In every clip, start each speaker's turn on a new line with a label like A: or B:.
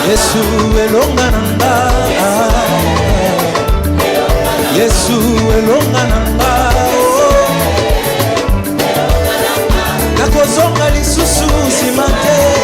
A: yesu elonga na nga yesu elonga na nga oh. nakozonga lisusu nsima te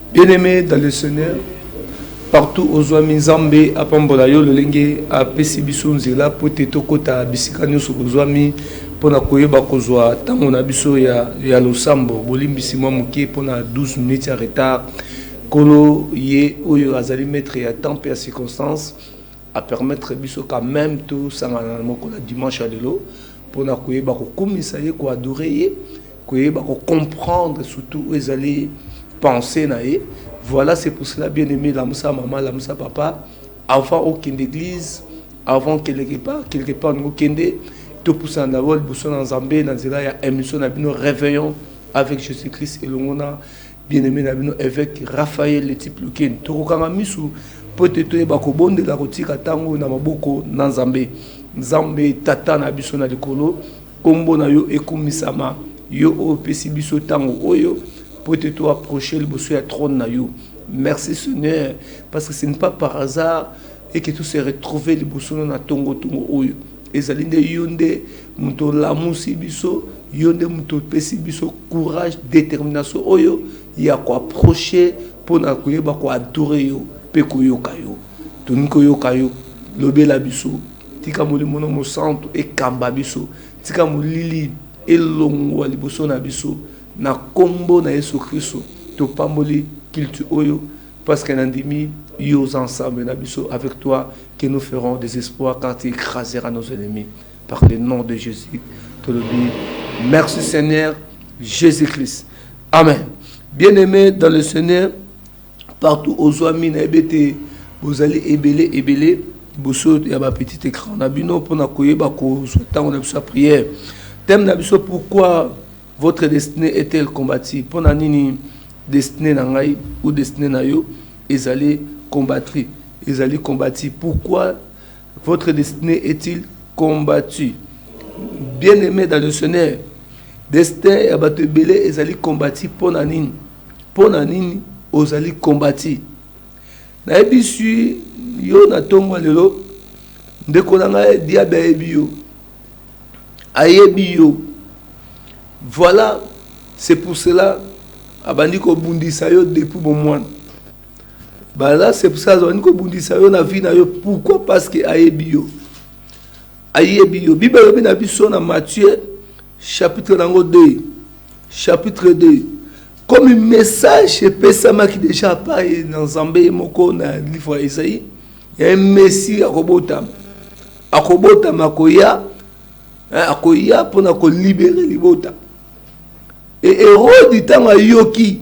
A: Bien-aimé
B: dans le Seigneur, partout ozwami Nzambe apambola yo lolenge apesi biso nzela mpo te tokota bisika nyonso tozwami mpo na koyeba kozwa ntango na biso ya, ya losambo. Bolimbisi mwa moke mpo na 12 minutes ya retard. Nkolo ye oyo azali maître ya temps mpe ya circonstance apermettre biso quand même tosangana na mokolo ya dimanche ya lelo mpo na koyeba kokumisa ye koadore ye koyeba ko comprendre surtout oyo ezali pensee na ye voila c'est pour cela bien aime lamusa mama lamusa papa avant okende eglise avant quelque part quelque part olingi okende topusana dabord liboso na nzambe na nzela ya émission na bino réveillon avec jésus christ elongo na bien aime na bino évêque raphaël letipe lukeni tokokanga miso mpo ete toyeba kobondela kotika ntango na maboko na nzambe nzambe tata na biso na likolo Nkombo na yo ekumisama, yo oyo opesi biso ntango oyo mpo ete to approcher liboso ya trone na yo. Merci Seigneur parce que ce n'est pas par hasard et que tout se retrouver liboso na tongo tongo oyo. Ezali nde yo nde moto olamusi biso, yo nde moto opesi biso courage, détermination oyo ya ko approcher mpo na koyeba ko adorer yo mpe koyoka yo. Tolingi koyoka yo, lobela biso. Tika molimo no mosantu ekamba biso, tika molili elongwa liboso na biso na kombo na yesu christo topamboli culte oyo parce que nandimi yo oza ensemble na biso avec toi que nous ferons des espoirs quand tu écraseras nos ennemis par le nom de jésus tolobi merci seigneur jésus christ amen bien aimé dans le seigneur partout ozuami na yebi ete bozali ebele ebele liboso ya ba petit ecran na bino mpona koyeba kozwa ntango na biso ya prière thème na biso pourquoi votre destinée est-elle combattie mpona nini destinée na ngai ou destinée na yo ezali combattre ezali combattu pourquoi votre destinée est-il combattu bien aimé dans le seigneur destin ya bato ebele ezali combattu mpona nini Pona nini ozali combati nayebisi yo na tongo ya lelo ndeko na nga diable ayebi yo ayebi yo voila c'est pour cela abandi kobundisa yo depuis bomwana bala c'est pour ça azalaki kobundisa yo na vie na yo pourquoi parce que ayebi yo ayebi yo bible elobi na biso na matthieu Chapitre nango de chapitre de comme message epesamaki deja apa ye na nzambe ye moko na livre ya ezai ya messi akobotama akobotama akoya akoya mpona kolibere libota e erodi ntango ayoki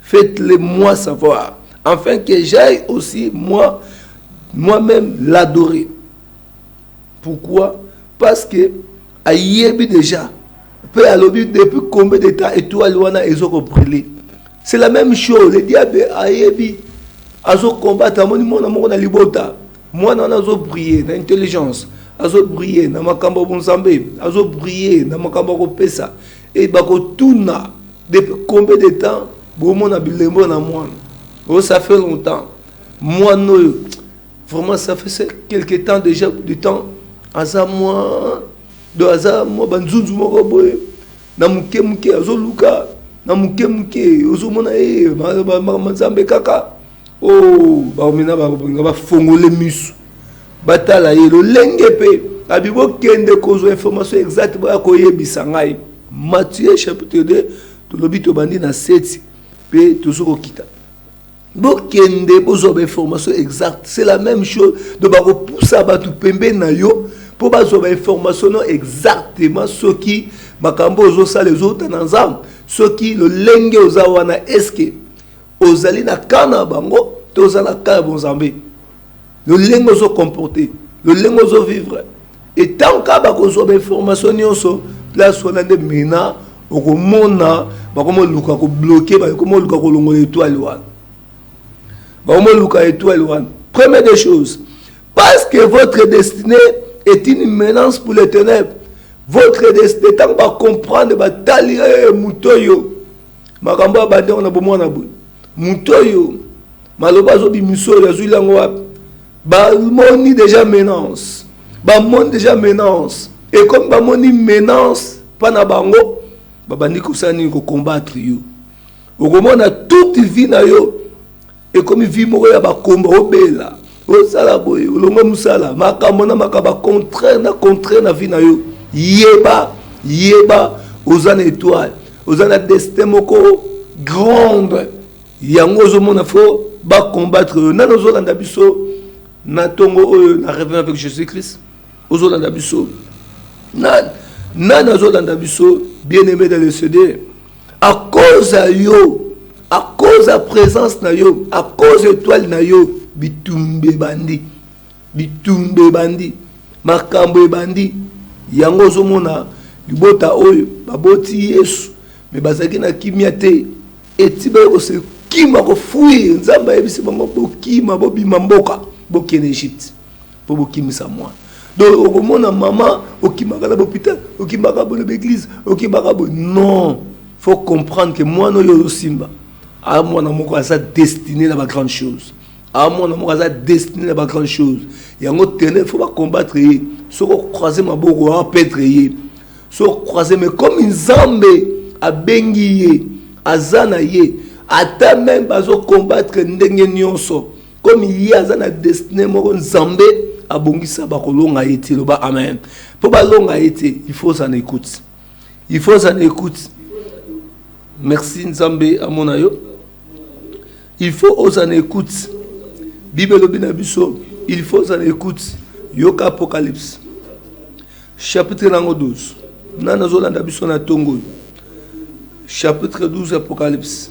B: Faites le moi savoir enfin que j'aille aussi moi moi même l'adorer pourquoi parce que ayebi déjà mpe alobi depuis combien de temps étoile wana ezoko brûler c'est la même chose le diable ayebi azocombattre amoni mwana moko na libota mwana wana azobrille na intelligence azobrille na makambo ya bonzambe azobrille na makambo ya kopesa Et bakotuna depuis combien de temps bomona bilembo na mwana oh ça fait longtemps mwana oyo vraiment ça fait quelque temps déjà du temps aza mwa do aza mwa banzunzu moko boye na moke moke azoluka na moke moke ozomona ye eh, makambo nzambe kaka Oh, baomena bakolinga bafongole misu batala ye lolenge mpe abi bokende kozwa information exacte boya koyebisa ngai matthieu chapitre 2 tolobi tobandi na 7 mpe tozo kokita bokende bozwa bainformation exacte c'est la même chose donc bakopusa bato pembeni na yo mpo bazwa bainformation no exactement soki makambo ozosala ezouta na nzambe soki lolenge oza wana eske ozali na camp na bango to oza na camp ya bonzambe lolenge ozo comporte lolenge ozo vivre etango kaka bakozwa bainformation nyonso place wana nde mena okomona bakomoluka kobloke bakomoluka kolongola etoile wana bakomoluka etoile wana première des choses parce que votre destinée est une menace pour les ténèbres votre destinée ntango bacomprendre batali eh, moto oyo Makambo oyo abandi yango na bomwana boye. Moto oyo maloba azobimisa oyo azwili yango wapi? Bamoni deja menance, bamoni deja menance, ekomi bamoni menance mpa na bango, babandi kosala nini? Kokombattre yo. Okomona toute vie na yo ekomi vie moko ya bakomba obela osala boye olonga mosala makambo na makambo contraire na contraire na vie na yo yeba yeba oza na etoile oza na destin moko grande yango ozomona fo bacombattre yo nani ozolanda biso na ntongo oyo na revin avec jésus christ ozolanda biso nani nani azolanda biso bien aimé dans le cd à cause ya yo à cause ya présence na yo à cause étoile na yo bitumba ebandi bitumba ebandi makambo ebandi yango ozomona libota oyo baboti yesu me bazalaki na kimia te eti baye kosekima kofuir nzambe ayebisi bango bokima bobima mboka bokende egypte Po bokimisa mwana. Donc okomona maman okimaka na l'hôpital, okimaka bo na eglise, okimaka bo non. Faut comprendre que mwana oyo ozosimba a mwana moko aza destiné na ba grande chose. A mwana moko aza destiné na ba grande chose. Yango tene faut ba combattre ye. Soko croiser maboko a perdre ye. Soko croiser mais comme Nzambe abengi ye aza na ye ata meme bazo combattre ndenge nionso comme ye aza na destine moko nzambe abongisa bakolonga ye te loba amen mpo balonga ye te il faut ça n'écoute il faut ça n'écoute merci nzambe amona yo il faut oza na écoute bible elobi na biso il faut oza na écoute yoka apocalypse chapitre nango 12 nani azolanda biso na ntongo oyo chapitre 12 apocalypse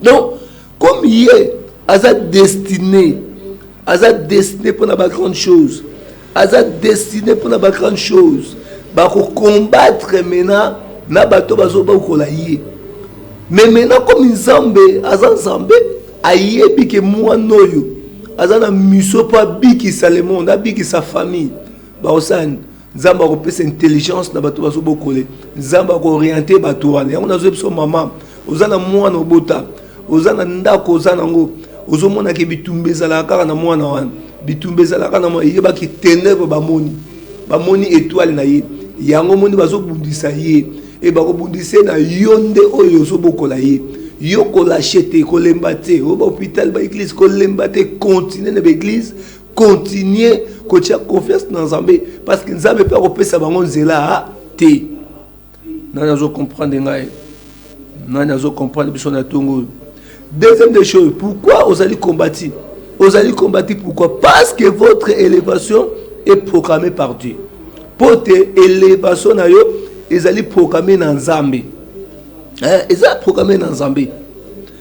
B: donc comme ye aza destine aza destine mpona ba grande chose aza destine mpona ba grande chose bakokombatre mena na bato bazobakola ye me mena komi nzambe aza nzambe ayebi ke mwana oyo aza na miso mpo abikisa le monde abikisa famille baosani nzambe akopesa intelligence na bato bazobokole nzambe akooriente bato wana yango nazoyebi so mama oza na mwana obota oza na ndako oza nango ozomonaka bitumba ezalaka kaka na mwana wana bitumba ezalaka na mwana eyebaki tenebre bamoni bamoni etoile na ye yango moni bazobundisa ye e bakobundisa ye na yo nde oyo ozobokola ye yo kolashe te kolemba te oyo bahopital baeglise kolemba te continue na baeglise continuer kotia confiance na nzambe parce que nzambe mpe akopesa bango nzela te nani azo comprendre ngai nani azo comprendre biso na ntongo oyo deuxième des choses pourquoi ozali combati ozali combati pourquoi parce que votre élévation est programmée par dieu mpo te élévation na yo ezali programme na nzambe eza programme na nzambe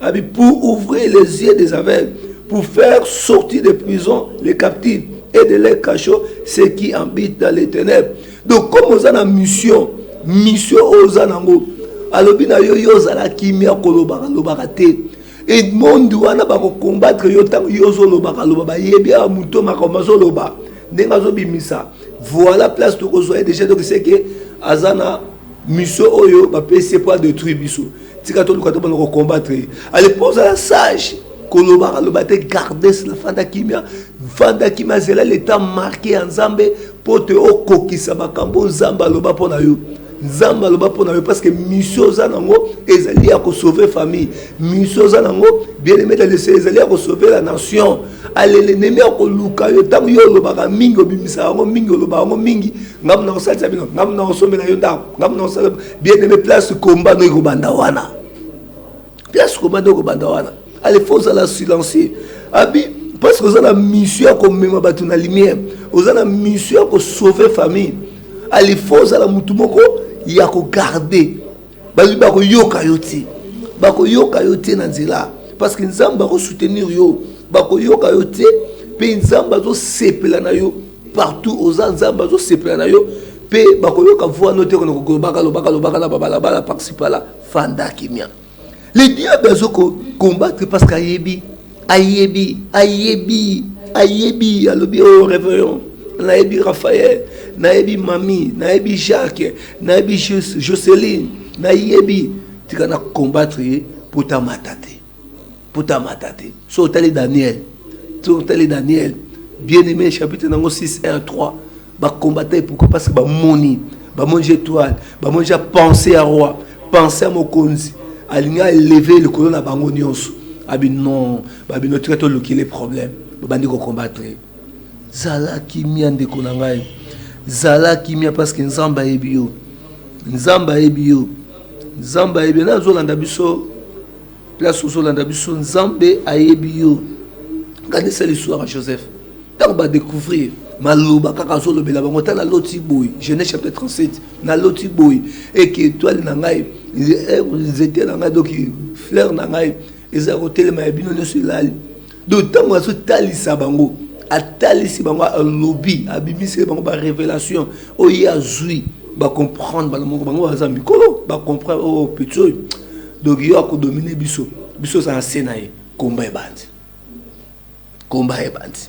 B: Abi pour ouvrir les yeux des aveugles, pour faire sortir des prisons les captifs et de leur cachot ceux qui habitent dans les ténèbres. Donc comme oza na mission, mission oyo oza nango, alobi na yo yo ozala kimia kolobaka lobaka te. Et monde wana bako combattre yo tango yo ozolobaka loba bayebi awa moto makambo azoloba ndenge azobimisa voilà place tokozwa ye déjà donc c'est que aza na Mission oyo ba pesi ye pas détruire biso. Tika to luka to bana ko combattre. Allez pose la sage. Kolobaka loba te garder la fanda kimia. Fanda kimia zela l'état marqué ya Nzambe po te okokisa makambo Nzambe aloba pona yo. Nzambe aloba pona yo parce que mission oza nango ezali ya ko sauver famille. miso oza nango bien aime dalese ezali ya kosauve la nation alele nemi akoluka yo ntango yo olobaka mingi obimisaka yango mingi olobaka yango mingi ngamu na kosalisa bino ngamu na kosombela yo ndako ngamu na kosala bien aime place komba no ekobanda wana place komba no ekobanda wana ale fo ozala silencieux abi parce que oza na mission ya komema bato na lumière oza na mission ya kosauve famille ale fo ozala motu moko ya kogarde bayebi bakoyoka yo te bakoyoka yo te na nzela parce que nzambe bakosoutenir yo bakoyoka yo te mpe nzambe azosepela na yo partout oza nzambe azosepela na yo mpe bakoyoka voix no te kona kokolobaka lobaka lobaka na babalabala paxipala fanda kimia le diable azo ko combattre parce que ayebi ayebi ayebi ayebi alobi o oh, réveillon nayebi raphaël nayebi mami nayebi jacques nayebi joceline nayebi tika na combattre ye mpo tamata te mpo tamata te so otali daniel so otali daniel bien aimé chapitre nango 6 1 3 ba combattant ye pourquoi parce que bamoni bamoni je etoile bamoni ja pensé ya roi pensé ya mokonzi alingi aleve likolo na bango nyonso abi non babino tika tolukile problème babandi kocombattre ye zala kimia ndeko na ngai zala kimia parce que nzambe ayebi yo nzambe ayebi yo nzambe ayebi yo nazolanda biso place ozolanda biso nzambe ayebi yo kanisa liswaka joseph ntango badecouvrir maloba kaka azolobela bango ata naloti boye genèse chapitre 37 naloti boye eke etoile na ngai eh, nzete na ngai doki fleur na ngai eza kotelema ya bino nyonso elali donc ntango azotalisa bango atalisi bango alobi abimiseli bango barévélation oyo ye azwi bacomprendre bana moko bango baza mikolo bacomprendre oyo oh, petit oyo donc yo akodomine biso biso oza na se na ye komba ebandi komba ebandi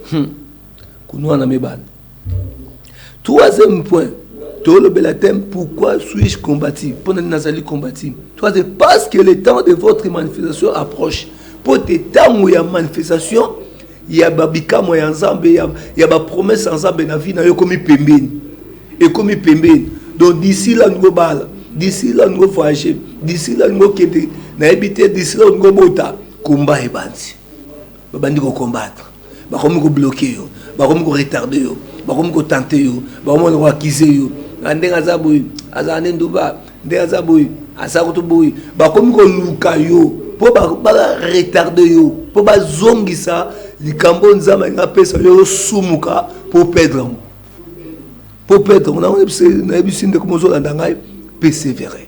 B: Hmm. Kunua na mebana. Troisième point, tolobela thème pourquoi suis-je combatif Pour nani nazali combatif Troisième, parce que le temps de votre manifestation approche. Mpo te ntango ya manifestation ya babikamwa ya nzambe ya, ya bapromese ya nzambe na vie na yo ekomi pembeni ekomi pembeni donc d'ici là olingo bala d'ici là olingo voyage d'ici là olingo kende nayebi te d'ici là olingo bota komba ebanzi babandi
C: ko combattre bakomi ko bloquer yo bakomi ko retarder yo bakomi ko tenter yo bakomi ko accuser yo ah, ndenge aza boye azala nde nduba ndenge aza boye aza kutu boye bakomi koluka yo mpo baretarde yo mpo bazongisa likambo oyo nzambe alingi apesa yo osumuka mpo perdre yango mpo perdre yango nayebisi ndeko mozolanda ngai persévere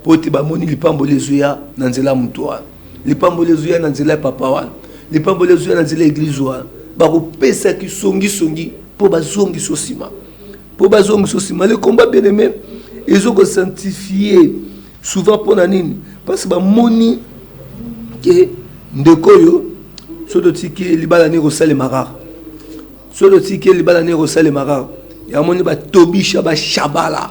C: Mpo ete bamoni lipamboli ezoya na nzela ya moto wana, lipamboli ezoya na nzela ya papa wana, lipamboli ezoya na nzela ya eglize wana, bakopesa kisongisongi mpo bazongisa nsima, mpo bazongisa nsima. Le combat bien aime ezo ko sanctifier souvent mpo na nini? Parce que bamoni ke ndeko oyo soki totiki libala nini kosalema kaka, soki totiki libala nini kosalema kaka, yamoni batobisha bashabala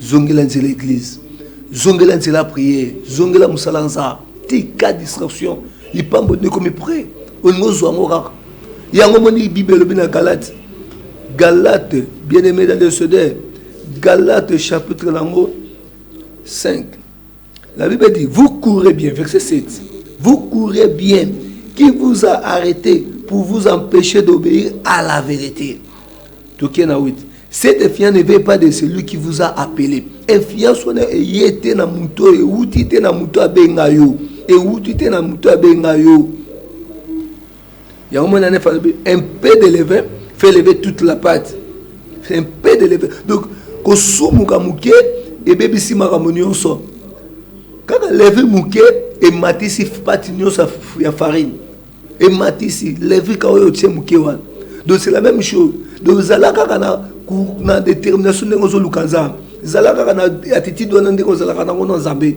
C: Zongela nzela eglise. Zongela nzela prière. Zongela musala nza. Tika distraction. Lipambo ndeko mi près. Olingo zwa ngo kaka. Yango moni Bible elobi na Galate. Galate bien-aimé dans le Seigneur. Galate chapitre nango 5 La Bible dit, vous courez bien, verset 7. Vous courez bien. Qui vous a arrêté pour vous empêcher d'obéir à la vérité? Tokena 8. Cette influence ne vient pas de celui qui vous a appelé. Influence wana eye te na moto oyo euti te na moto abenga yo, euti te na moto abenga yo. yango mwana nefa alobi un peu de levain fait lever toute la pate c'est un peu de levain donc kosumuka moke ebebisi makambo nyonso kaka levi moke ematisi pati nyonso ya farine ematisi levi ka oyo otie moke wana donc c'est la même chose donc zala kaka na, na détermination ndenge ozoluka nzambe zala kaka na attitude wana ndenge ozalaka nango na nzambe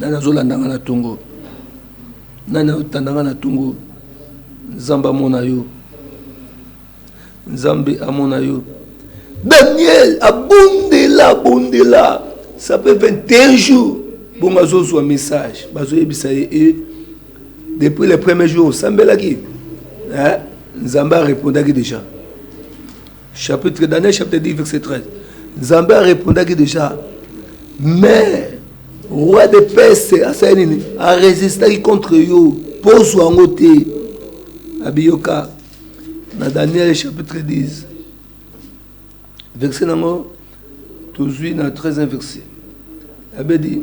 C: nani azolanda nga na tongo nani azotanda nga na tongo nzambe amona yo nzambe amona yo daniel abondela abondela ça peut 21 jours bongo azozwa message bazoyebisa ye e depuis le premier jour osambelaki nzambe arepondaki déjà Chapitre, Daniel chapitre 10, verset 13. Zambé répondaki déjà, mais roi de Perse asali nini? A résistaki contre yo, poso yango te. Abiyoka na Daniel chapitre 10. Verset nango tozui na 13e verset. Abedi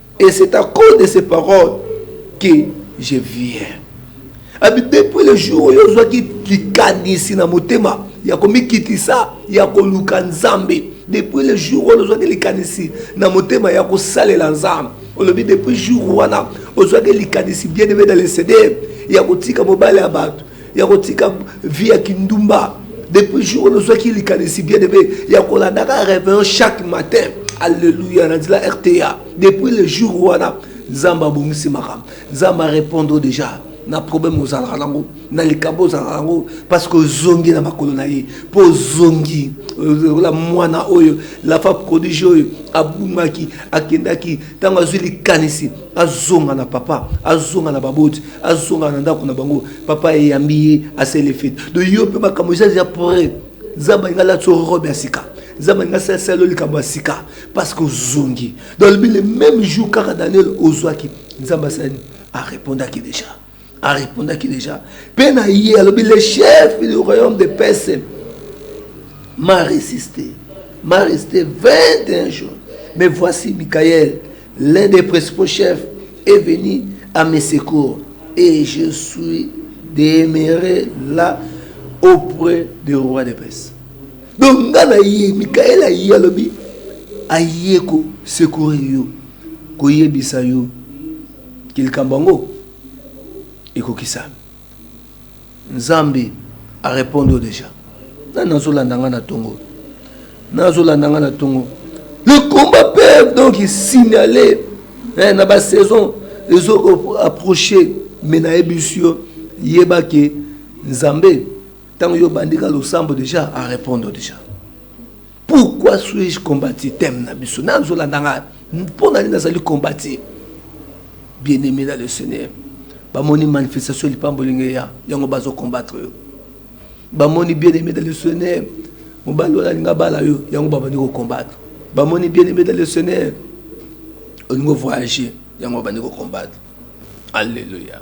C: Et c'est à cause de ces paroles que je viens. Abi depuis le jour oyo ozwaki likanisi na motema ya komikitisa ya koluka Nzambe. Depuis le jour oyo ozwaki likanisi na motema ya kosalela Nzambe. Olobi depuis jour wana ozwaki likanisi bien aimé dans le Seigneur ya kotika mobali ya bato. ya kotika vie ya kindumba depuis jour oyo ozwaki likanisi bien ebe ya kolandaka réveillon chaque matin alleluya na nzela rta depuis le jour wana nzambe abongisi makambo nzambe arépondre déjà na problème ozalaka nango na likambo ozalaka nango parce que ozongi na makolo na ye mpo ozongi la mwana oyo lafa prodige oyo abungaki akendaki ntango azwi likanisi azonga na papa azonga na baboti azonga na ndako na bango papa eyambi ye asele fete do yo mpe makambo eza eza pre nzambe alinga alati robe ya sika nzambe alinga asala likambo ya sika parce que ozongi dolobi le même jour kaka daniel ozwaki nzambe asali arepondaki déjà a repondaki déjà mpe na ye alobi le chef du royaume de perse m'a résisté m'a resté 21 jours mais voici michael l'un des principaux chefs est venu à mes secours et je suis demeuré là auprès du roi de perse donc nga na ye mikael aye alobi aye kosekure yo koyebisa yo Ke likambo yango ekokisami. Nzambe a repondre yo dejà. Nani azo landa nga na tongo oyo? Nani azo landa nga na tongo oyo? Le combat peut donc signaler eh, na ba saison ezo approcher mais nayebisi yo yeba ke Nzambe ntango yo obandi ka losambo deja a repondre deja. Pourquoi suis-je combattu thème na biso nazo landa nga mpo na nini nazali combattu bien aimé dans le Seigneur bamoni manifestation ya lipambo ndenge ya yango bazo combattre yo bamoni bien aimé dans le Seigneur mobali wana alinga bala yo yango babandi kocombattre bamoni bien aimé dans le Seigneur olingo voyager yango babandi kocombattre alleluia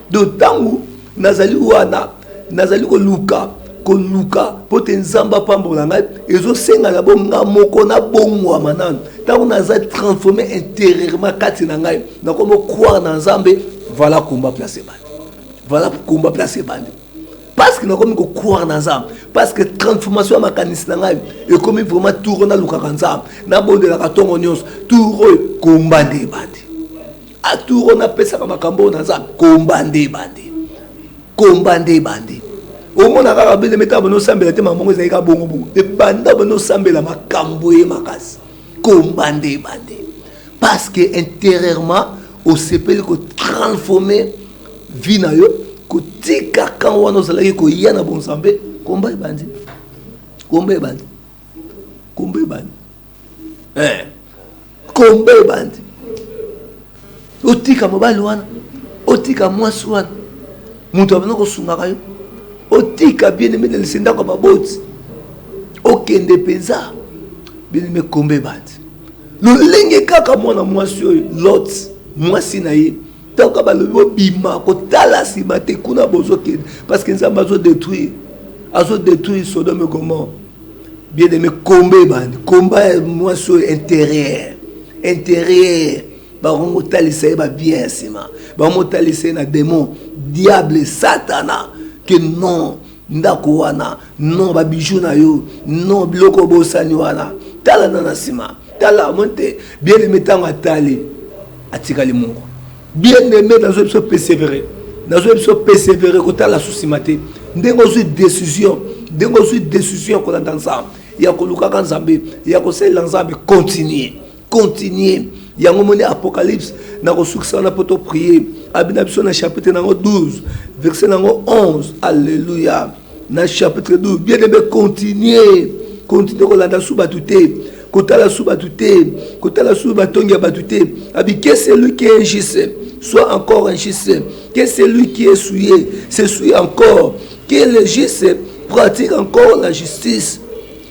C: Donc ntango nazali wana nazali koluka koluka mpo te nzambe apambola ngai ezosenga na bo nga moko nabongwama nanu ntango naza transforme interieurement kati na ngai nakomi okware na nzambe vala komba place ebandi vala komba place ebandi parce que nakomi kokware na nzambe parce que transformation ya makanisi na ngai ekomi vraiment tour oyo nalukaka nzambe nabondelaka ntongo nyonso tour oyo komba nde ebandi atour wana apesaka makambo oyo naza komba nde ebandi komba nde ebandi omona kaka beleme ntango bana osambela te makambo yango ezali kaka bongobongo ebanda bana osambela makambo ye makasi komba nde ebandi parce que intérieurement osepeli kotransforme vie na yo kotika kan wana ozalaki koya na bonzambe komba ebandi komba ebandi kombo ebandi eh, kombo ebandi otika mobali wana otika mwasi wana moto abanda kosungaka yo otika bieneme na lise ndako ya baboti okende mpenza bieneme kombo ebandi lolenge kaka mwana mwasi oyo lot mwasi na ye Toka balobi bobima kotala sima te kuna bozo kende parce que nzambe azo detruire azo detruire sodome gomor bien aimé komba ebandi komba ya mwasi oyo interieur interieur bango kotalisa ye babien ya nsima bango kotalisa ye na demon diable satana que non ndako wana non ba bijoux na yo non biloko obosani wana tala na na nsima tala omoni te bien aime ntango atali atikali moko bien aime nazoya biso persevere nazoya biso persevere kotala su nsima te ndenge ozwi décision ndenge ozwi décision ya kolanda nzambe ya kolukaka nzambe ya kosalela nzambe continue continuer yango moni apocalypse na kosukisa wana mpo toprier abina biso na chapitre nango 12 verset nango 11 alleluya na chapitre 12 bien aime continuer continue kolanda su bato te kotala su bato te kotala su batongi ya bato te abi que celui qui est injuste soit encore injuste que celui qui est souillé se souille encore que le juste pratique encore la justice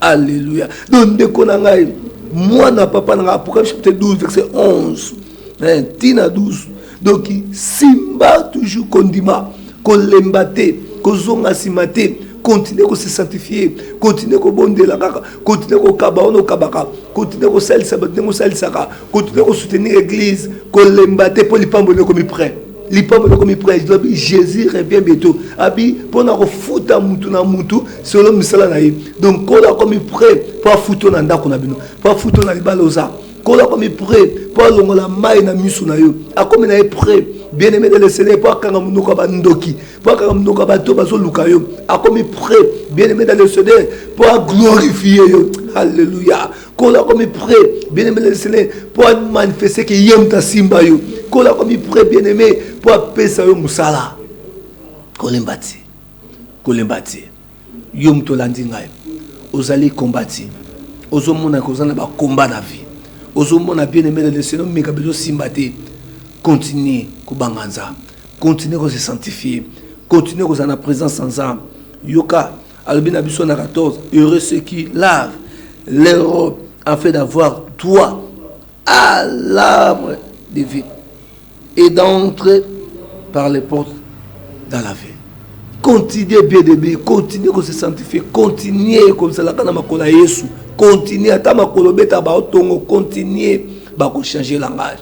C: Alléluia. Donc ndeko na ngai mwana papa na ngai Apocalypse chapitre 12 verset 11 hein, tina 12 donc simba toujours kondima kolemba te kozonga nsima te continue ko se sanctifier continue kobondela kaka continue kokaba wana okabaka continue kosalisa bato ndenge osalisaka continue kosoutenir église kolemba te mpo lipambo nde ekomi près lipapa lokomi prise lobi jésus revient bientôt abi mpo na kofuta mutu na mutu solo misala na ye donc kolo akomi près mpo afuto na ndako na bino mpo afuto na libala oza kolo akomi près mpo alongola mai na miso na yo akomi na ye près bien aimé de le seigneur mpo akanga monoko ya bandoki mpo akanga monoko ya bato bazoluka yo akomi près bien aimé de le seigneur mpo aglorifie yo alleluya kola komi pre bien aimé lesele mpo amanifeste ke ye moto asimba yo kola komi pre bien aimé mpo apesa yo mosala kolemba te kolemba te yo moto olandi ngai ozali kombati ozomona koza na bakomba na vie ozomona bien aimé na leseno meka bezosimba te continue kobanga nzambe continue kose sanctifie continue kozala na présence ya nzambe yoka alobi na biso na 14 heureux ce qui lave l'europe en fait d'avoir droit à l'arbre de vie et d'entrer par les portes dans la vie continuer bien de bien continuer ko se sanctifier continuer kozalaka na makolo ya yesu continuer ata makolo beta baotongo continuer bakochange langage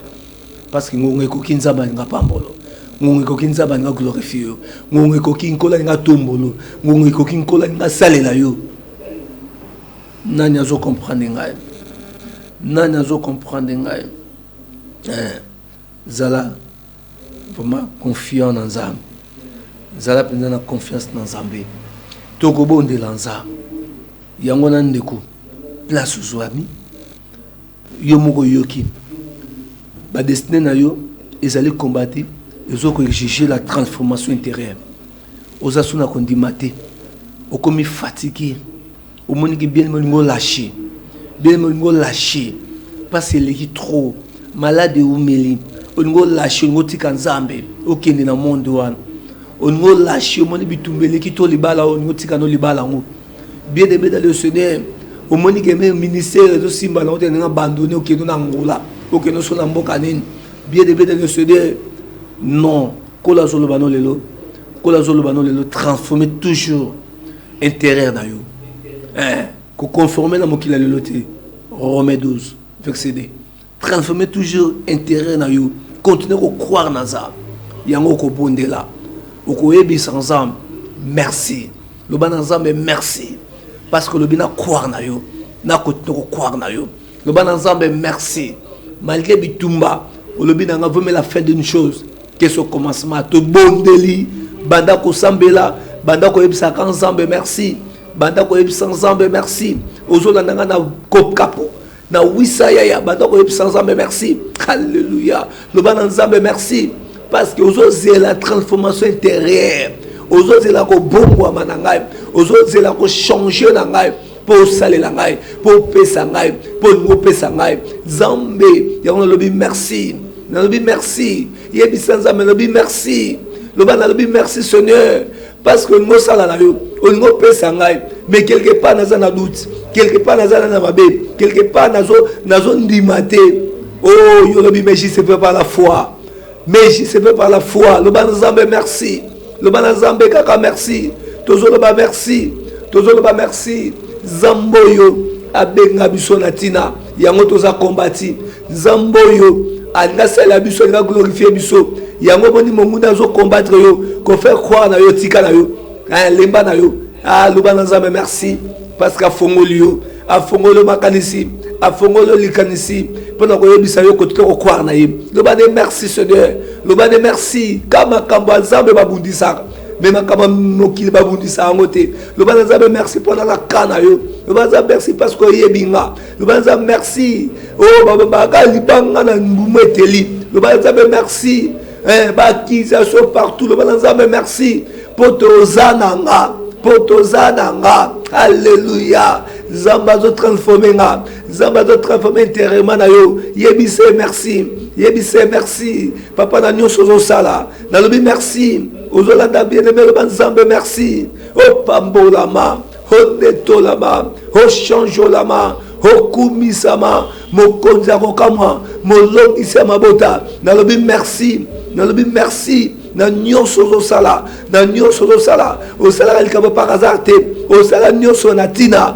C: Parce que ngonga ekoki nzambe alinga pambolo ngonga ekoki nzambe alinga glorifie yo ngonga ekoki nkola alinga tombolo ngonga ekoki nkola alinga salela yo nani azo comprendre ngai nani azo comprendre ngai eh, zala vraiment confiant na nzambe zala mpenza na confiance na nzambe tokobondela nzambe yango na ndeko place ozwami Yo moko oyoki ba destine na yo ezali combati ezo ko exige la transformation interieure oza su na kondima te okomi fatigue omoni ki bien olingi olache bien olingi olache mpasi eleki trop malade eumeli olingi olache olingi otika nzambe okende na monde wana olingi olache omoni bitumba eleki to libala oyo olingi otika no libala yango Bien aimé dans le Seigneur, omoni ke meme ministère ezo simba na ote ndenge abandonne okende na Angola, okende osona mboka nini? Bien aimé dans le Seigneur, non kolo azo loba no lelo, kolo azo loba no lelo transformer toujours intérieur na yo. Eh, ko conformer na mokili ya lelo te. Romain 12 verset 2. transformer toujours intérêt na yo continue ko croire na nzambe yango okobondela okoyebisa nzambe merci loba na nzambe merci parce que olobi na croire na yo na continue ko croire na yo loba na nzambe merci malgré bitumba olobi na nga vome la fin d'une chose que ce commencement tobondeli banda kosambela banda koyebisaka nzambe merci banda koyebisa nzambe merci ozolanda nga na kopkapo na wisa yaya banda koyebisa nzambe merci alleluya loba na nzambe merci parce que ozozela transformation intérieure ozozela kobongwama na ngai ozozela kochange na ngai mpo osalela ngai mpo opesa ngai mpo olingi opesa ngai nzambe yango nalobi merci nalobi merci yebisa nzambe nalobi merci loba nalobi merci seigneur parce que olingi osala na yo olingi opesa ngai mais quelque part naza na doute quelque part naza na na mabe quelque part nazondima te o oh, yo olobi mais jise pe par la foi mais jise pe par la foi loba na nzambe merci loba na nzambe kaka merci tozoloba merci tozoloba merci nzambe oyo abenga biso na ntina yango toza kombati nzambe oyo alingi asalela biso alingi aglorifie biso yango omoni monguna azo combattre yo kofaire croire na yo tika na yo eh, lemba na yo aloba ah, na nzambe merci parce que afongoli yo afongoli yo makanisi afongoli yo likanisi mpo na koyebisa yo kotika kokware na ye loba nde merci seigneur loba nde merci ka makambo ya nzambe babundisaka mais makambo ya mokili babundisa yango te loba na nzambe merci mpo nanga ka na yo loba na nzambe merci parce que oyebi nga loba na nzambe merci o oh, babaka libanga na mbumu eteli loba na nzambe merci eh, baakisation partout loba na nzambe merci mpo toza na nga mpo toza na nga alleluya nzambe azotransforme nga nzambe azotransforme interema na yo yebise merci yebise merci papa na nyonso ozosala nalobi merci ozolanda bien aime loba nzambe merci opambolama onetolama ochangeolama okumisama mokonzi ya kokamwa molongisi ya mabota nalobi merci nalobi merci na nyonso ozosala na nyonso ozosala osalaka likambo par hasard te osala nyonso na ntina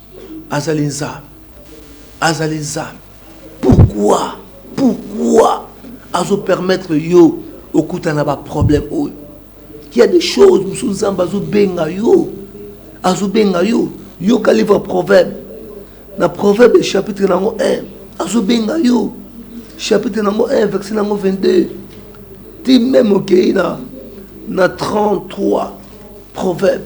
C: Azali Nzambe. Azali Nzambe. Pourquoi? Pourquoi? Azo permettre yo okutana na ba problème oyo. Il y a des choses musu Nzambe azo benga yo. Azo benga yo. Yoka livre proverbe. Na proverbe chapitre nango 1. Azo benga yo. Chapitre nango 1 verset nango 22. Ti même okei na na 33 proverbe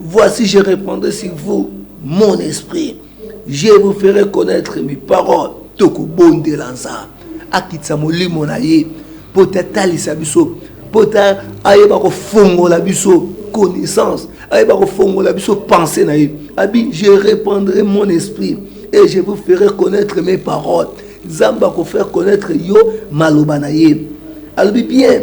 C: Voici, je répondrai sur vous, mon esprit. Je vous ferai connaître mes paroles. tokobondela nzambe akitisa molimo na ye mpo te atalisa biso mpo te ayeba kofongola biso connaissance ayeba kofongola biso pensée na ye abi je répandrai mon esprit et je vous ferai connaître mes paroles nzambe akofaire connaître yo maloba na ye alobi bien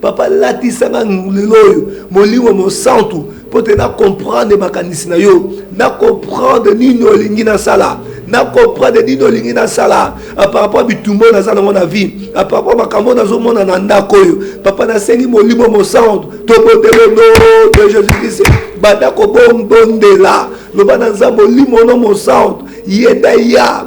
C: Papa latisa nga lelo oyo molimo mosantu mpo te na comprendre makanisi na yo na comprendre nini olingi nasala na comprendre nini olingi nasala ah, par rapport bitumba oyo naza nango na vie ah, par rapport makambo oyo nazomona na ndako oyo papa nasengi molimo mosantu tobondele no de jésus christ banda kobondela loba na nzambe olimo no mosantu ye nde ya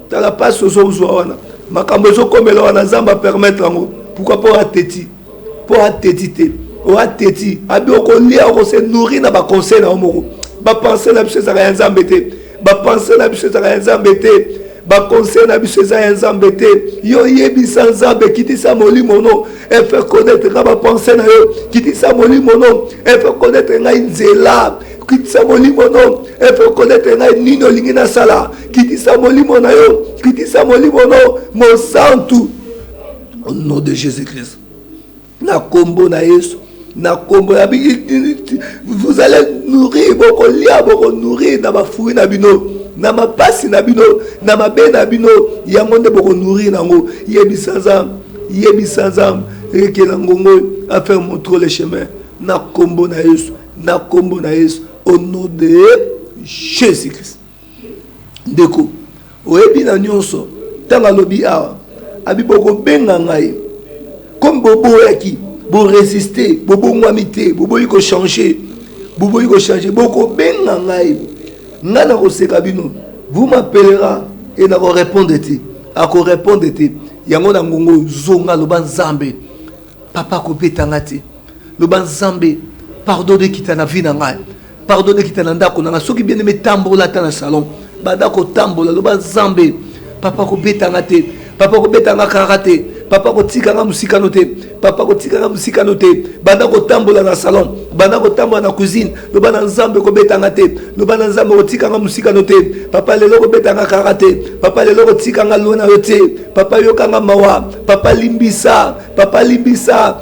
C: tala pasi ozozwa wana makambo ezokomela wana nzambe apermettre yango pourkui mpo ateti mpo ateti te o ateti abi okolia okose nourri na baconseil na yo moko bapense na biso ezaka ya nzambe te bapense na biso ezaka ya nzambe te baconseil na biso eza ya nzambe te yo yebisa nzambe kitisa molimo no efe connaître nga bapense na yo kitisa molimo no efe connaître ngai nzela kitisa molimo no efe connaître ngai nini olingi nasala kitisa molimo na yo kitisa molimo na yo mosantu au nom de jésus christ na nkombo na yesu na nkombo ya vous allez nourrir bokolia bokonourrir na bafui na bino na mapasi na bino na mabe na bino yango nde bokonourrir nango yebisa nzambe yebisa nzambe ekela ngongo affaire montre le chemin na nkombo na yesu na nkombo na yesu au nom de jésus christ Ndeko, oyebi na nionso, tango alobi awa, abi boko benga ngai, comme bo boyaki, bo resister, bo bongwami te, bo boyi ko changer, bo boyi ko changer, boko benga ngai, ngai na koseka bino, vous m'appellera et na ko repondre te, ako repondre te, yango na ngongo zonga, loba Nzambe, papa kobeta ngai te, loba Nzambe, pardon, ekita na vie na ngai. pardon ekita na ndako nanga soki bien aime tambola ata na salon banda kotambola loba nzambe papa kobeta nga te papa kobeta nga kara te papa kotika nga mosikano te papa kotika nga mosikano te banda kotambola na salon banda kotambola na cuisine loba na nzambe kobeta nga te loba na nzambe kotika nga mosikano te papa lelo kobeta nga kara te papa lelo kotika nga lona yo te papa yoka nga mawa papa limbisa papa limbisa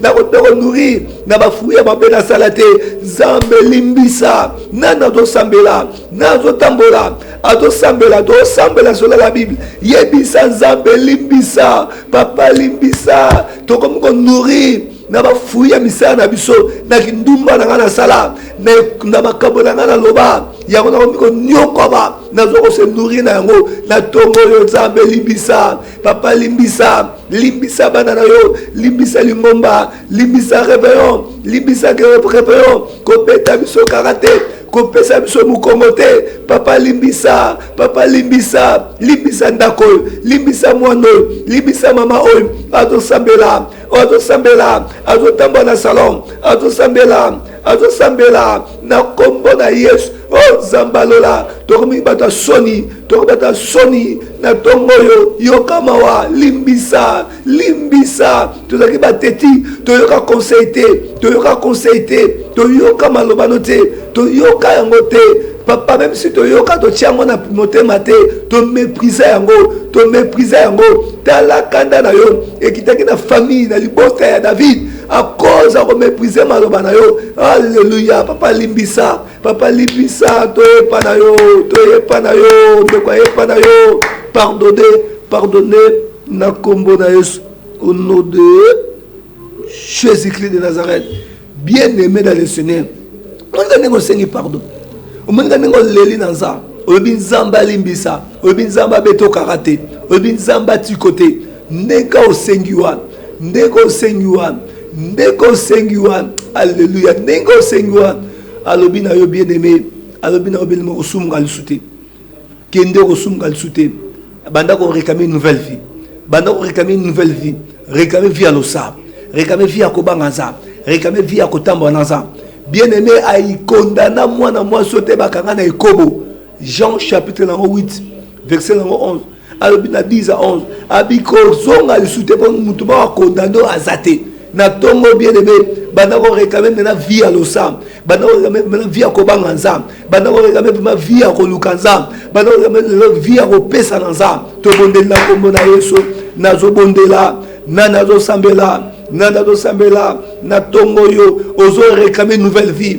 C: nakobeko nourrir na bafruit ya mabe nasala te nzambe limbisa nani azosambela nani azotambola azosambela tosambela solala bible yebisa nzambe limbisa papa limbisa tokomi konourrir na bafui ya misala na biso na kindumba na ngai nasala na makambo na ngai naloba yango nakomi konyokwama nazo kose nourrir na yango na ntongo oyo nzambe limbisa papa limbisa limbisa bana na yo limbisa lingomba limbisa rebellion limbisa rebellion kobeta biso karate kopesa biso mokongo te papa limbisa papa limbisa limbisa ndako oyo limbisa mwana oyo limbisa mama oyo azosambela oyo azosambela azotambola na salon azosambela azosambela na nkombo na yesu o oh, nzambe alola tokomi bato ya soni tokomi bato ya soni na ntongo oyo yoka mawa limbisa limbisa tozalaki bateti toyoka conseil te toyoka conseil te toyoka malobano te toyoka yango te papa meme si toyoka totya yango na motema te tomeprise yango tomeprise yango tala kanda na yo ekitaki na famille na libota ya david à cause ya komeprize maloba na yo alleluya papa limbisa papa limbisa toyepa na yo toyepa na yo ndeko ayepa na yo pardonne pardonne na nkombo na yesu au nom de jésus christ de nazareth bien aimé dans le seigneur omonika ndenge osengi pardon omonika ndenge oleli na nzambe olobi nzambe alimbisa olobi nzambe abeta okaka te olobi nzambe atiko te ndenge osengi wana ndenge osengi wana ndenge osengi wana alleluya ndenge osengi wana alobi na yo bien aimé alobi na yo bien aimé osumuka lisu te kende okosumuka lisu te banda korekame une nouvelle vie banda korekame une nouvelle vie rekame vie ya losambo rekame vie ya kobanga nzambe rekame vie ya kotambola na nzambe bien aimé aikondana mwana mwasi oyo te bakanga na ekobo jean chapitre nango 8 verset nango 11 alobi na 10 a 11 abikozonga lisusu te mpo motu moko akondane oyo aza te na ntongo bien aime banda korekame mpena vie ya losambo banda korekame mpena vie ya kobanga nzambe banda korekame mpema vie ya koluka nzambe banda korekame lelo vie ya kopesa na nzambe tobondeli na nkombo na yesu nazobondela na nazosambela na nazosambela na ntongo oyo ozorekame nouvelle vie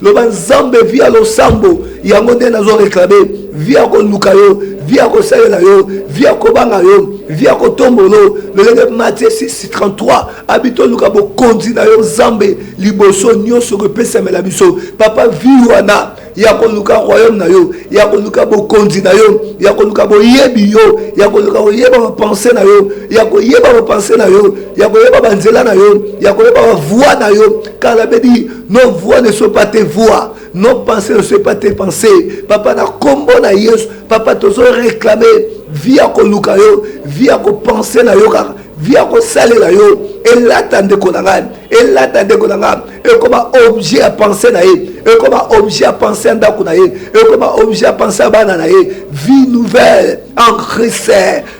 C: loba nzambe vi ya losambo yango nde nazo reklame vi ya koluka yo vi ya kosalela yo vi ya kobanga yo vi ya kotombolo lolenge matie 633 abi toluka bokonzi na yo nzambe liboso nyonso kopesamela biso papa vi wana ya koluka royaume na yo ya koluka bokonzi na yo ya koluka boyebi yo ya koluka koyeba bapense na yo ya koyeba bapense na yo ya koyeba banzela na yo ya koyeba bavoi na yo kala bedi Nos voix ne sont pas tes voix. Nos pensées ne sont pas tes pensées. Papa, na combo na Yesu. Papa, tozo réclamer via ko luka yo, via ko penser na yo kaka, via ko sale na yo. Elata ndeko na ngai, elata ndeko na ngai. Ekoma objet à penser na ye, ekoma objet à penser à ndako na ye, ekoma objet à penser à bana na ye. Vie nouvelle en Christ,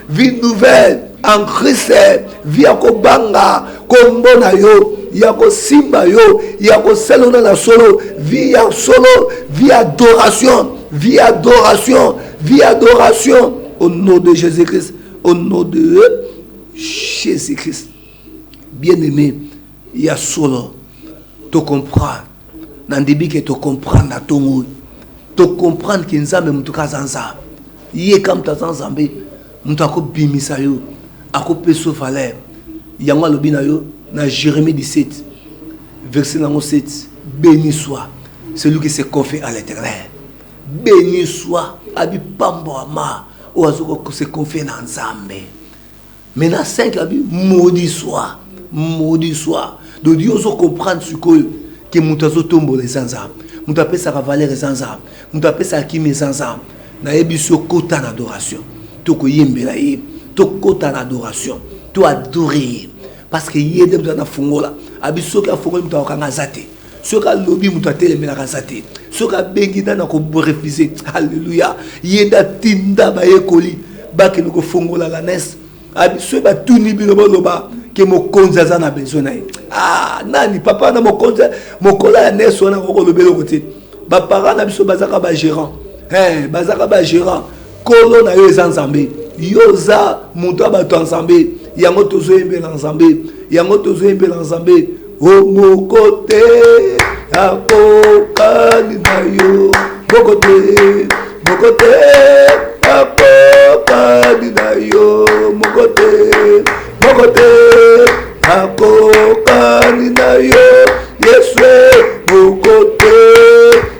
C: vie nouvelle. en christ vi ya kobanga kombo na yo ya kosimba yo ya kosalona na solo vi ya solo vi adoration vi adoration vi adoration au nom de jésus christ au nom de jésus christ bien aimé ya solo tocomprendre Na ndebi ke to comprendre na tongo oyo. To comprendre ke Nzambe moto ka aza Nzambe. Ye ka moto aza Nzambe, moto ako bimisa yo, ako pesa yo valeur. Yango alobi na yo na Jeremie 17 verset nango 7, beni soit celui qui se confie à l'Eternel. Beni soit abi pamboama oyo azo ko se confier na Nzambe. mais na 5 la bi maudit soit maudit soit donc yo ozo comprendre sikoyo ke moto azotombola eza nzambe moto apesaka valeur eza nzambe moto apesaka kimi eza nzambe nayebisi yo kota na adoration tokoyembela ye tokota na adoration to adore ye parce que ye nde moto anafungola abi soki afungoli moto akokanga aza te soki alobi moto atelemelaka aza te soki abengi nani akorefuse alleluya ye nde atinda bayekoli bakende kofongola lanese abi soki batuni bino boloba ke mokonzi aza na besoin na ye ah, nani papa na mokonzi mokolo ya nese wana akokolobela oko te baparent na biso bazaka bagérant hey, eh, bazaka bagérant Nkolo na yo eza Nzambe. Yo oza moto ya bato ya Nzambe. Yango tozoyembela Nzambe. Yango tozoyembela Nzambe. O moko te akokani na yo. Moko te, moko te akokani na yo. Moko te, moko te akokani na yo. Yesu moko te.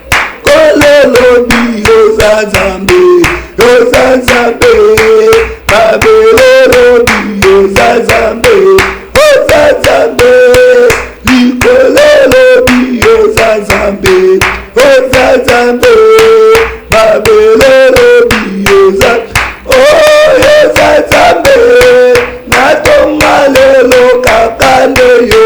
C: kololobi oza nzambe oza nzambe babelolobi oza nzambe oza nzambe likololobi oza nzambe oza nzambe babelolobi oza oyo oza nzambe natonga lelo kaka nde yo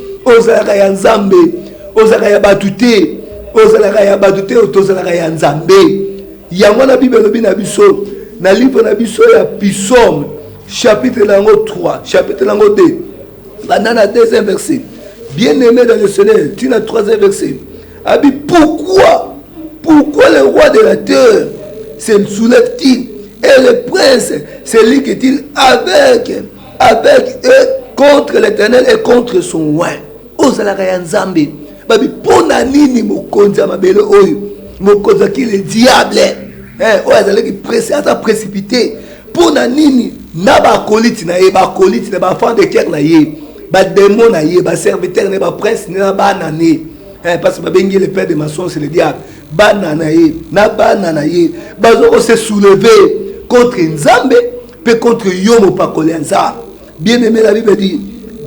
C: ozalaka ya nzambe ozalaka ya bato te ozalaka ya bato te tozalaka ya nzambe yango wana bible elobi na biso na livre na biso ya pisome chapitre na yango 3 chapitre na yango 2 banda na deuxième verset bien aimé dans le seigneur ntina troisième verset abi pourquoi pourquoi le roi de la terre se soulève-t-il et le prince se ligue-t-il avec avec eux contre l'éternel et contre son oin ozalaka ya nzambe babi mpo na nini mokonzi ya mabele oyo mokonzi aki le diable eh, oyo azalaki presi aza précipité mpo na nini na bakoliti na ye bakoliti na bafan de cœur na ye bademo na ye baserviteur na ye baprince na bana na ye eh, parce que babengi le père de maçon c'est le diable bana na ye na bana na ye baza kose soulever contre nzambe Mpe contre yo mopakoli ya Nzambe. Bien aimé, la Bible dit,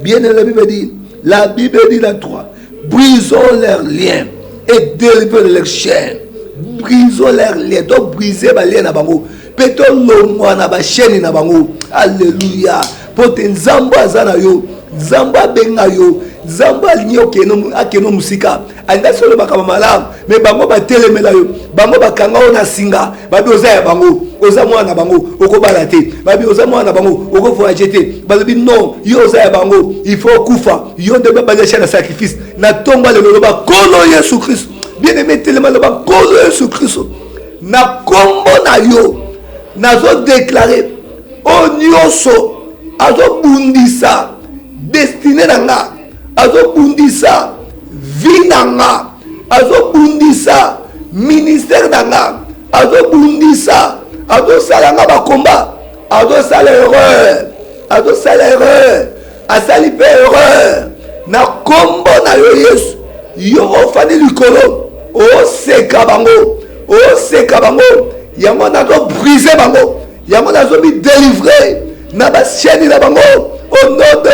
C: bien aimé, la Bible dit, la Bible dit la 3, brisons leurs liens et délivrons leurs chaînes. Brisons leurs liens, donc briser ba liens na bango. Mpe tolongwa na ba chaînes na bango. Alléluia. Mpo te Nzambe aza na yo, Nzambe abenga yo, Nzambe alingi okende akende mosika. alinga solo makambo malamu me bango batelemela yo bango bakanga yo na singa babi oza ya bango oza mwana na bango okobala te babi oza mwana na bango okovoyage te balobi non yo oza ya bango il faut okufa yo nde babalisha na sacrifice na ntongo lelo loba nkolo yesu kristo bien aime telema loba nkolo yesu kristo na nkombo na yo nazodeklare oyo nyonso azobundisa destine na ngai azobundisa vi na nga azobundisa ministère na nga azobundisa azosala nga bakomba azosala erreur azosala erreur asali mpe erreur na nkombo na yo yesu yo ofandi likolo oseka bango oseka bango yango nazobrise bango yango nazo mi delivrer na ba chaîne na bango au nom de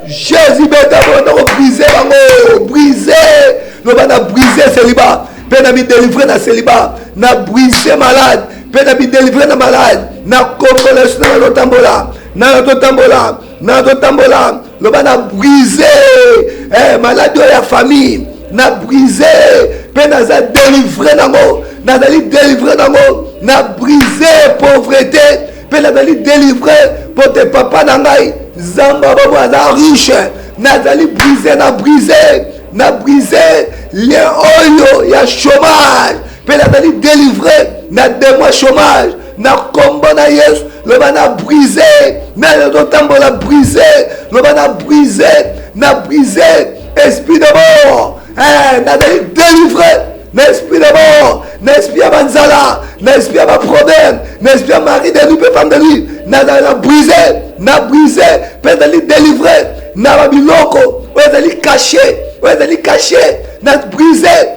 C: Jésus beta bondo ko briser bango briser loba na briser celibat mpe na mi delivrer na celibat na briser malade mpe na mi delivrer na malade na kombola yesu na na totambola na na totambola na na totambola loba na brise eh, maladi oyo ya famille na brise mpe naza delivre nango nazali delivre nango na brise pauvrete mpe nazali delivre mpo te papa na ngai nzambe abobo aza riche nazali brise na brise na brise lien oyo ya chômage mpe nazali delivre na demo ya chômage na nkombo na yesu loba na brise nani azotambola brise loba na brise na brise esprit de mort eh, nazali delivre na esprit de mort na esprit ya banzala na esprit ya baproblème na esprit ya mari de lui mpe femme de lui nazali na brise na brise mpe ezali delivre na babiloko oyo ezali kashe oyo ezali kashe na brise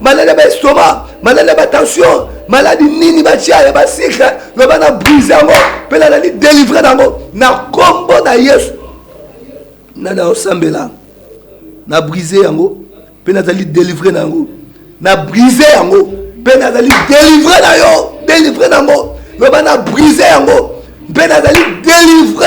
C: maladi ya baestoma maladi ya batension maladi nini batya ya basikre loba na brise yango mpe nalali delivre na yango na nkombo na yesu nani aosambela na brise yango mpe nazali delivre na yango na brise yango mpe nazali delivre na yo delivre na yango loba na brise yango mpe nazali delivre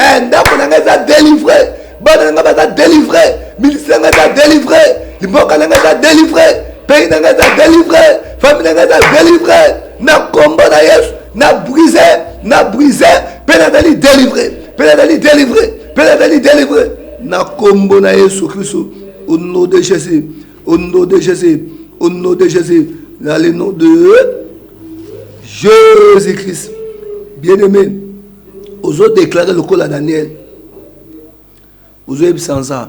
C: eh, ndako na ngai eza delivre bana na ngai baza delivre ministre na ngai eza delivre mboka na ngai eza delivre pays na ngai eza delivre famille na ngai eza delivre na kombo na yesu na brise na brise mpe nazali delivre mpe nazali delivre mpe nazali delivre na kombo na yesu kristo au nom de jésus au nom de jésus au nom de jésus dans le nom de jésus christ bien aimé ozo déclare lokola daniel ozoyebisa nza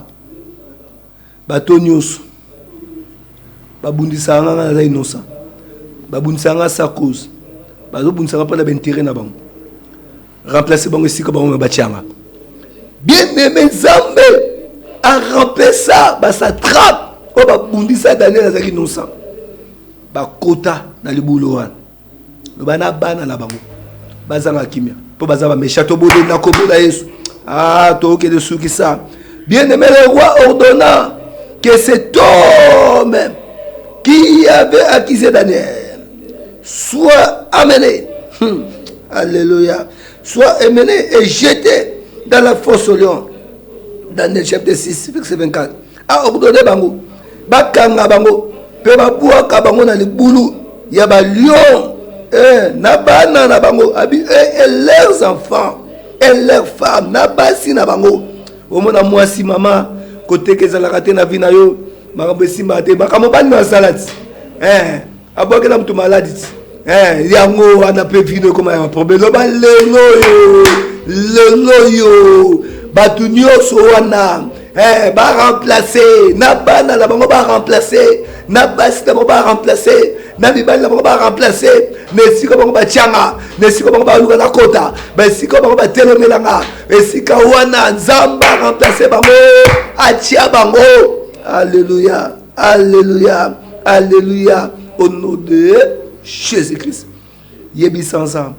C: bato nyonso babundisaka nga nga naza inosa babundisaka nga sa cause bazobundisaka mpo na baintere na bango remplace bango esika bango batyanga bien aime nzambe aremplaça basatrape oyo babundisa daniel azalaki inosa bakota na libulu wana loba na bana na bango bazanga kimia mpo baza bamesha tobode na kombo na yesu ah, tokende sukisa bien aimé le roi ordonna que cet homme qui avait accusé daniel soit amené hmm. alléluia soit amené et jeté dans la fosse au lion daniel chapitre 6 verset 24 akudode bango bakanga bango mpe babwaka bango na libulu ya balion eh, na bana na bango abi eh, et leurs enfants et leurs femmes na basi na bango omona mwasi mama koteka ezalaka te na vi na yo makambo esimbaka te makambo bani na salati eh. abwakela moto maladi ti eh, yango wana mpe vino ekoma ya baproblème loba lelo oyo lelo oyo bato nyonso wana eh, baremplace na bana na bango baremplace na basi na bango baremplace na mibali na bango baremplace na esika bango batyanga na esika bango baluka na kota baesika bango batelemelanga esika wana nzambe aremplace bango atya bango alleluya Alleluia, Alleluia, au nom de Jésus-Christ. Yebisanza,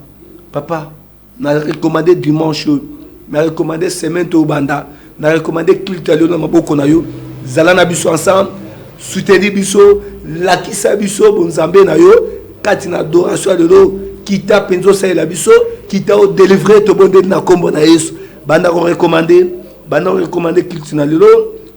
C: papa, na recommandé dimanche, na recommandé semaine to banda, na recommandé culte alio na maboko na yo, zala na biso ensemble, soutenir biso, lakisa biso bonzambe na yo, kati na adoration lelo, kita penzo salela biso, kita o délivrer to bonde na kombo na Yesu. Banda ko recommander Banda ko recommande culte na lelo,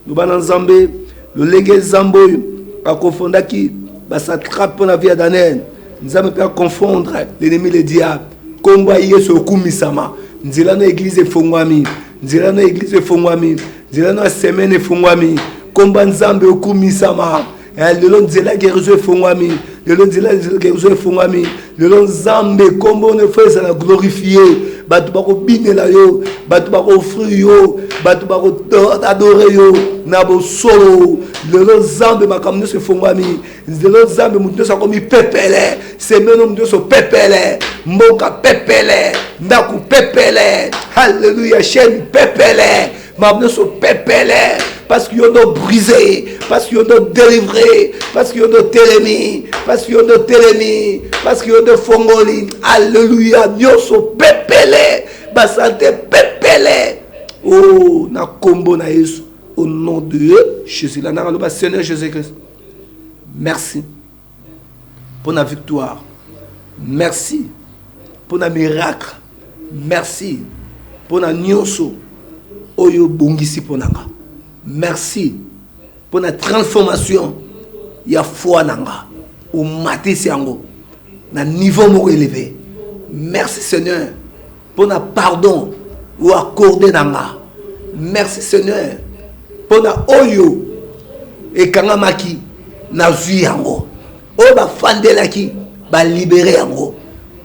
C: loba na Nzambe lolenge Nzambe oyo akofondaki basatrape mpo na vie ya Daniel. Nzambe mpe aconfondre l'ennemi le diable. Nkombo ya Yesu okumisama, nzela na eglize efongwami, nzela na eglize efongwami, nzela na semaine efongwami. Nkombo ya Nzambe okumisama. Eh, lelo nzela guérison efongwami lelo nzela guérison efongwami lelo nzambe nkombo na efo ezala glorifie bato bakobinela yo bato bakoofrir yo bato bakoadore yo na bosolo lelo nzambe makambo nyonso efongwami lelo nzambe moto nyonso akomi pepele semeno moto nyonso pepele mboka pepele ndako pepele halleluya chaine pepele makambo nyonso pepele parce que yo ndo brise parce que yo ndo delivre parce que yo ndo telemi parce que yo ndo telemi parce que yo ndo fongoli alleluya nyonso pepele basante pepele o oh, na nkombo na yesu au nom de jésus la nanga loba seigneur jésus christ merci pona victoire merci pona miracle merci pona nioso oyo bongisi pona nga merci pona transformation ya foi na nga omatisi yango na niveau moko eleve merci seigneur pona pardon o accorde na nga merci seigneur pona oyo ekangamaki nazwi yango oyo bafandelaki balibere yango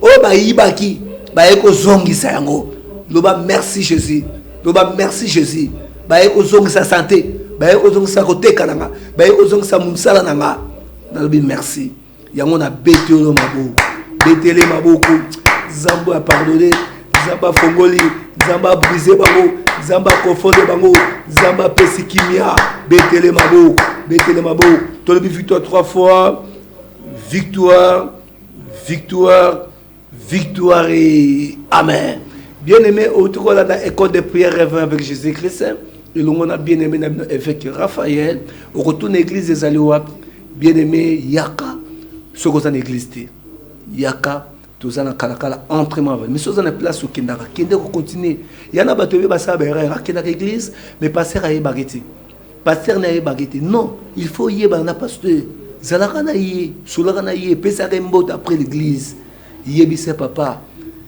C: oyo bayibaki baye kozongisa yango loba merci jésus loba merci jésus baye kozongisa sante baye kozongisa koteka na nga baye kozongisa mosala na nga nalobi merci yango na beti oyo maboko betele maboko nzambe apardone nzambe afongoli nzambe abrise bango nzambe akonfonde bango nzambe apesi kimia betele maboko betele maboko tolobi victoire trois fois victoire victoire Victoire Amen. Bien-aimé, otukola na école de prière rêveur avec Jésus-Christ. elongo na bien aimé na bino évêque raphaël okotuna église ezali wapi bien aimé yaka soki oza na église te yaka toza na kalakala entre ma mais soki oza na place okendaka kende kocontinue ya na bato ebe basala baerreur akendaka église mais paster ayebaki te pasteur na yebaka ete non il faut yebana na pasteur zalaka na ye solaka na ye pesaka ye mbote après l'église yebisa papa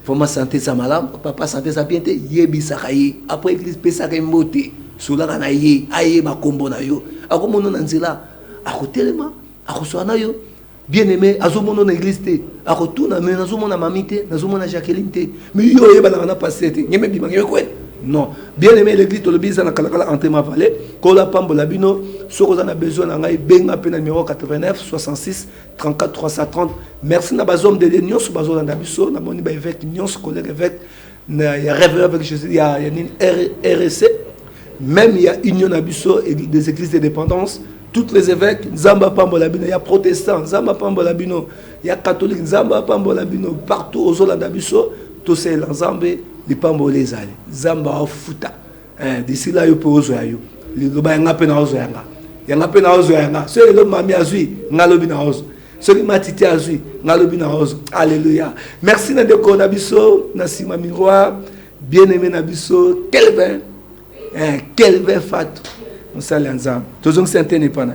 C: vraiment sante eza malamu papa sante eza bien te yebisaka ye après église pesaka ye mbote solaka na ye ayeba nkombo na yo akomona na nzela akotelema akosola na yo bien aime azomona na eglise te akotuna me nazomona mami te nazomona jacqueline te me yo oyebanaka na paster te ngeme bima ngeme kwele non bien aime l'église tolobi eza na kalakala entre ma vallée kola pambola bino soki oza na besoin na ngai benga mpe na numéro 89 66 34 330 merci na bazome de dieu nyonso bazolanda biso namoni baevêque nyonso collègue evêque na ya rêve avec Jésus ya ya nini RSC même ya union na biso des églises de dépendance toutes les évêques nzambe apambola bino ya protestant nzambe apambola bino ya catholique nzambe apambola bino partout ozolanda biso tosalela nzambe lipamboli ezali nzambe afuta eh, d'ici là yo mpe ozwa ya yo liloba yanga mpe naozwa yanga yanga mpe naozwa yanga soki lelo mami azwi nga lobi naozwa soki matiti azwi nga lobi naozwa alleluya merci na ndeko na biso na nsima miroir bien aimé na biso kelvin eh, kelvin fatu mosali ya nzambe tozongisi antene epa na